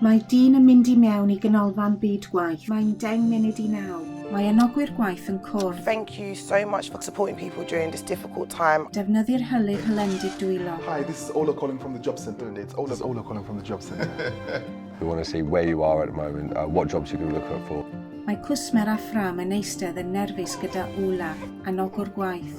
Mae dyn yn mynd i mewn i ganolfan byd gwaith. Mae'n deng munud i naw. Mae anogwyr gwaith yn cwrdd. Thank you so much for supporting people during this difficult time. Defnyddir hylif hylendid dwylo. Hi, this is Ola calling from the job centre and it's Ola. This is Ola calling from the job centre. We want to see where you are at the moment, uh, what jobs you can look out for. Mae cwsmer â ffrâm yn eistedd yn nerfus gyda Ola, anogwr gwaith.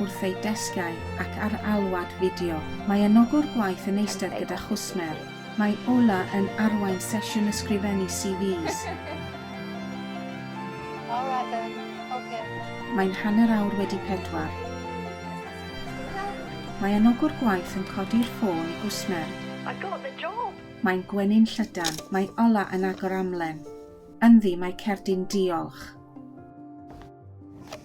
wrth eu desgiau ac ar alwad fideo. Mae anogwr gwaith yn eistedd gyda chwsmer. Mae Ola yn arwain sesiwn ysgrifennu CVs. Alright then, ok. Mae'n hanner awr wedi pedwar. Mae anogwr gwaith yn codi'r ffôn i gwsmer. I got the job! Mae'n gwenu'n llydan. Mae Ola yn agor amlen. Ynddi, mae cerdyn diolch.